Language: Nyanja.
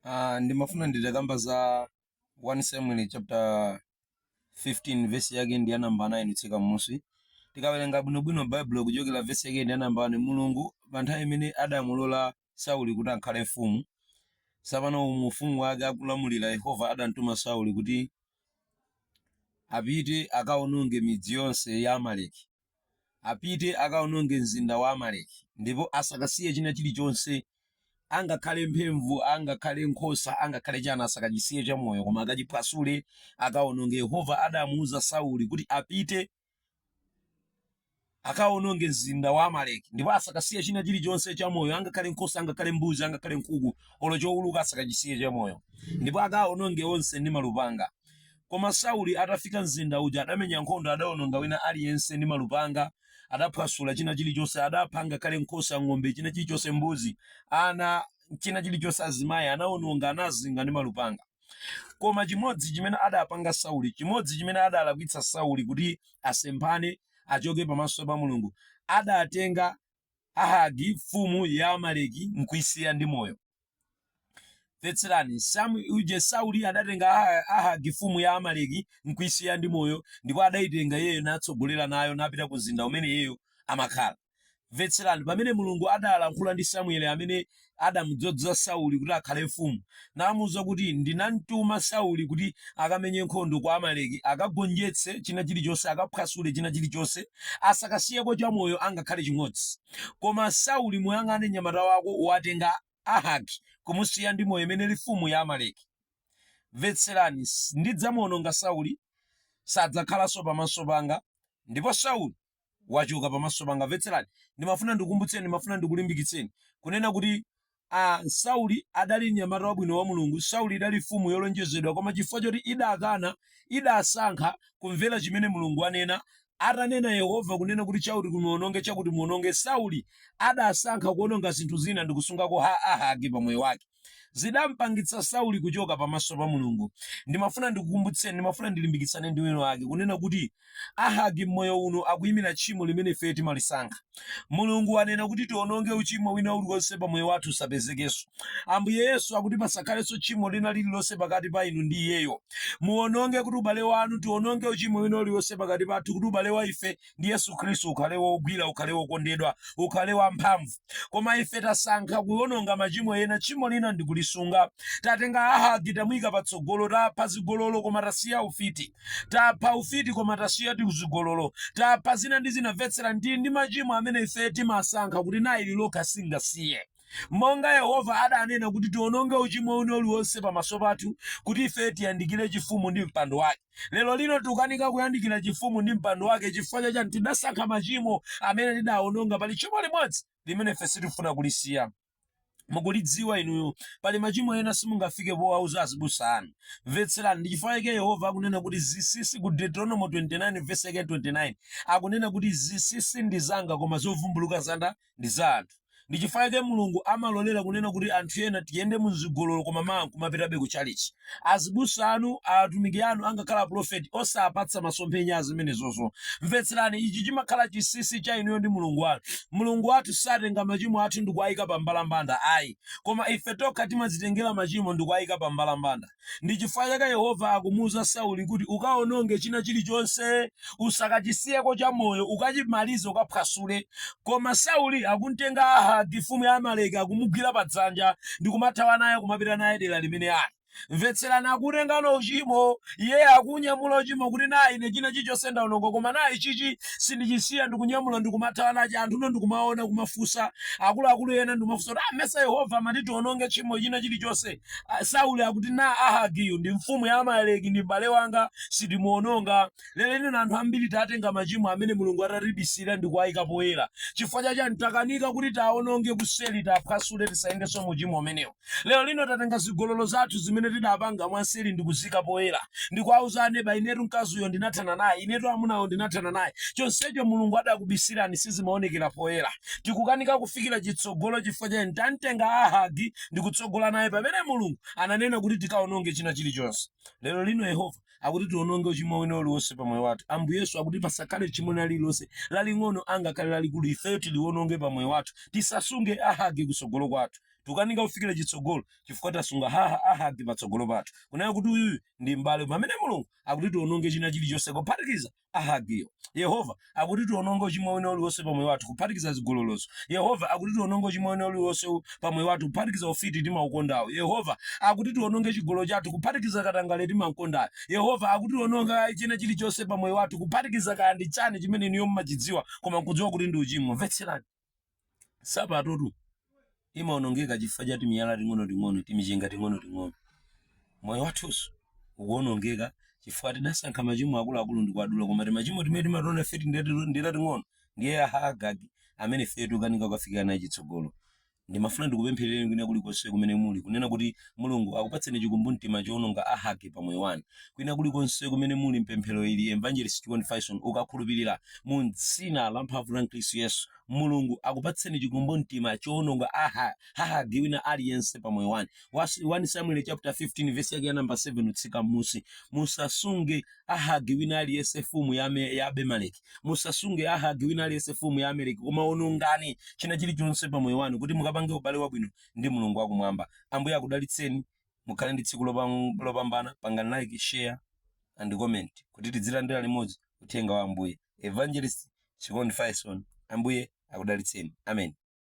Ah, ndimafuna nditakamba za 1 Samuel chapter 15 verse yake ndi ya namba 9 kutsika m'musi tikawerenga bwinobwino baibulo kuchokera verse yake ndi ya namba 1 mulungu pa nthawi imene adamulola sauli kuti akhale mfumu tsopano mu ufumu wake akulamulira yehova adamtuma sauli kuti apite akawononge midzi yonse ya amaleki apite akaononge mzinda wa Amaleki ndipo asakasiye china chilichonse angakhale mphemvu angakhale nkhosa angakhale chana asakachisiye chamoyo koma akachiphwasule akaononge Yehova adamuuza Sauli kuti apite akaononge mzinda wa Amaleki ndipo asakasiye china chilichonse chamoyo angakhale nkhosa angakhale mbuzi angakhale nkhuku olo chouluka asakachisiye chamoyo ndipo akaononge onse ndi malupanga Koma Sauli atafika mzinda uja, adamenya nkhondo, adaononga wina aliyense ndi malupanga, adaphwasula china chilichonse, adapha ngakhale nkhosa, ng'ombe, china chilichonse, mbuzi, ana, china chilichonse, azimayi, anaononga, anazinga ndi malupanga. Koma chimodzi chimene adapanga Sauli, chimodzi chimene adalakwitsa Sauli kuti asemphane, achoke pamaso pa Mulungu, adatenga Ahagi, mfumu ya Amaleki, n'kuisiya ndi moyo. Mvetserani, S- uje Sauli adatenga Aha- Ahagi mfumu ya Amaleki n'kuisiya ndi moyo, ndipo adaitenga iyeyo natsogolera nayo napita ku mzinda umene iyeyo amakhala. Mvetserani, pamene Mulungu adalankhula ndi Samuele amene adamudzoza Sauli kuti akhale mfumu, namuuza kuti, Ndinamtuma Sauli kuti akamenye nkhondo ku Amaleki, akagonjetse china chilichonse, akaphwasule china chilichonse, asakasiyeko chamoyo angakhale chimodzi. Koma Sauli, muyang'ane mnyamata wako, watenga Ahagi kumusiya ndi moyo, imene ili mfumu ya Amaleki. Mvetserani, ndidzamuononga Sauli, sadzakhalanso pamaso panga. Ndipo Sauli. wachoka pamaso panga. Mvetserani, ndimafuna ndikukumbutseni, ndimafuna ndikulimbikitseni kunena kuti Sauli adali mnyamata wabwino wa Mulungu. Sauli idali mfumu yolonjezedwa, koma chifukwa choti idakana, idasankha kumvera chimene Mulungu anena. Atanena Yehova kunena kuti chakuti kumuononge, chakuti muononge, Sauli adasankha kuononga zinthu zina ndikusungako ha Ahagi pa moyo wake. zidampangitsa Sauli kuchoka pamaso pa Mulungu. Ndimafuna ndikukumbutseni, ndimafuna ndilimbikitsane ndi wina wake kunena kuti Ahagi m'moyo uno akuyimira tchimo limene ife timalisankha. Mulungu anena kuti tiononge uchimo wina uliwonse pa moyo wathu usapezekenso. Ambuye Yesu akuti pasakhalenso tchimo lina lililonse pakati pa inu ndi iyeyo. Muononge kuti ubale wanu, tiononge uchimo wina uliwonse pakati pathu kuti ubale wa ife ndi Yesu Khristu, ukhale wogwira, ukhale wokondedwa, ukhale wamphamvu. Koma ife tasankha kuwononga machimo ena, tchimo lina ndi kulisunga. Tatenga Ahagi tamuyika patsogolo, tapha zigololo koma tasiya ufiti, tapha ufiti koma tasiya tizigololo, tapha zina ndi zina. Mvetsera ndi ndi machimo amene ife timasankha kuti nayo ili lokha singasiye. Monga Yehova adanena kuti tiononge uchimo wina uliwonse pamaso pathu kuti ife tiyandikire chifumu ndi mpando wake. Lero lino tikukanika kuyandikira chifumu ndi mpando wake chifukwa cha chani? Tidasankha machimo amene tidaononga. Pali tchimo limodzi limene ife sitifuna kulisiya. Mukulidziwa inuyo. Pali machimo ena simungafike powauza azibusa anu. Mvetserani, ndi chifukwa chake Yehova akunena kuti zinsinsi ku Deuteronomo 29 vesi yake 29. Akunena kuti zinsinsi ndi zanga koma zovumbuluka zan- ndi za anthu. Ndi chifukwa chake Mulungu amalolera kunena kuti anthu ena tiyende mu zigololo koma mawa nkumapitabe ku tchalitchi. Azibusa anu, atumiki anu angakhale apulofeti osapatsa masomphenya a zimenezozo. Mvetserani, ichi chimakhala chinsinsi cha inuyo ndi Mulungu wanu. Mulungu wathu satenga machimo athu ndikuwayika pa mbalambanda ayi. Koma ife tokha timadzitengera machimo ndikuwayika pa mbalambanda. Ndi chifukwa chake Yehova akumuuza Sauli kuti, Ukawononge china chilichonse. Usakachisiyeko chamoyo. Ukachimalize, ukaphwasule. Koma Sauli akum'tenga Ahagi, mfumu ya Amaleki, akumugwira padzanja ndi kumathawa naye kumapita naye dera limene ali. Mvetserani, akuutengano uchimo. Iye akuunyamula uchimo kuti, Nayi ine, china chilichonse ndawononga, koma nayi ichichi sindichisiya. Ndikunyamula ndi kumathawa nacho. Anthuno ndikumaona, kumafunsa akuluakulu ena ndi kumafunsa kuti, Ah, mesa Yehova amati tiwononge tchimo china chilichonse? Ah, Sauli akuti nayi Ahagiyu ndi mfumu ya Amaleki ndi m'bale wanga sindimuononga. Lero lino anthu ambiri tatenga machimo amene Mulungu adatibisira ndi kuwayika poyera. Chifukwa chachani takanika kuti taononge kuseli taphwasule tisayendenso mu uchimo umenewo. Lero lino tatenga zigololo zathu zimene tidapanga mwanseli ndi kuzika poyera. Ndi kuwauza aneba inetu mkazi uyo ndinathana naye, inetu amunawo ndinathana nawo. Chonsecho Mulungu adakubisirani sizimaonekera poyera. Tikukanika kufikira chitsogolo chifukwa chachani tamtenga Ahagi ndi kutsogola naye pamene mulungu ananena kuti tikaononge china chilichonse lero lino yehova akuti tiononge uchimo wina uliwonse pamoyo wathu ambuye yesu akuti pasakhale tchimo lina lililonse laling'ono angakhale lalikulu ife tiliwononge pamoyo wathu tisasunge ahagi kutsogolo kwathu tukanika kufikira chitsogolo chifukwa tasunga aha ahagi patsogolo pathu kunena kuti uyuyu ndi m'bale pamene mulungu akuti tiononge china chilichonse kuphatikiza Ahagiyo. Yehova akuti tiononge uchimo wina uliwonse pa moyo wathu kuphatikiza zigololozo. Yehova akuti tiononge uchimo wina uliwonse pa moyo wathu kuphatikiza ufiti timaukondawo. Yehova akuti tiononge chigololo chathu kuphatikiza katangale timamkondayo. Yehova akuti tiononge china chilichonse pa moyo wathu kuphatikiza kaya ndi chani chimene inuyo mumachidziwa koma nkudziwa kuti ndi uchimo. Mvetserani. sapatotu imaonongeka chifukwa cha timiyala ting'onoting'ono timichenga ting'onoting'ono moyo wathunso ukuonongeka chifukwa tidasankha machimo akuluakulu ndi kuwadula koma timachimo timene timatiwona ife ati ndi tating'ono ndiye aha ahagi amene ife tukanika kukafikira naye chitsogolo ndimafuna ndikupempherereni kwina kulikonse kumene muli kunena kuti Mulungu akupatseni chikumbumtima chowononga Ahagi pa moyo wanu. Kwina kulikonse kumene muli m'pemphero ili, Evangelist Chikondi Fyson ukakhulupirira mu m'dzina la mphamvu la Khristu Yesu, Mulungu akupatseni chikumbumtima chowononga a Ha- Hahagi wina aliyense pa moyo wanu. Was- 1 Samuel chapter 15 verse yake ya namba 7 kutsika m'munsi. Musasunge Ahagi wina aliyense mfumu ya, Ame- ya Abimeleki. Musasunge Ahagi wina aliyense mfumu ya Amaleki, koma onongani china chilichonse pa moyo wanu kuti mukapange ubale wabwino ndi Mulungu wa Kumwamba. Ambuye akudalitseni. Mukhale ndi tsiku lopam- lopambana. Pangani like, share and comment kuti tidzilandira limodzi uthenga wa Ambuye. Evangelist Chikondi Fyson. Ambuye akudalitseni. Amen.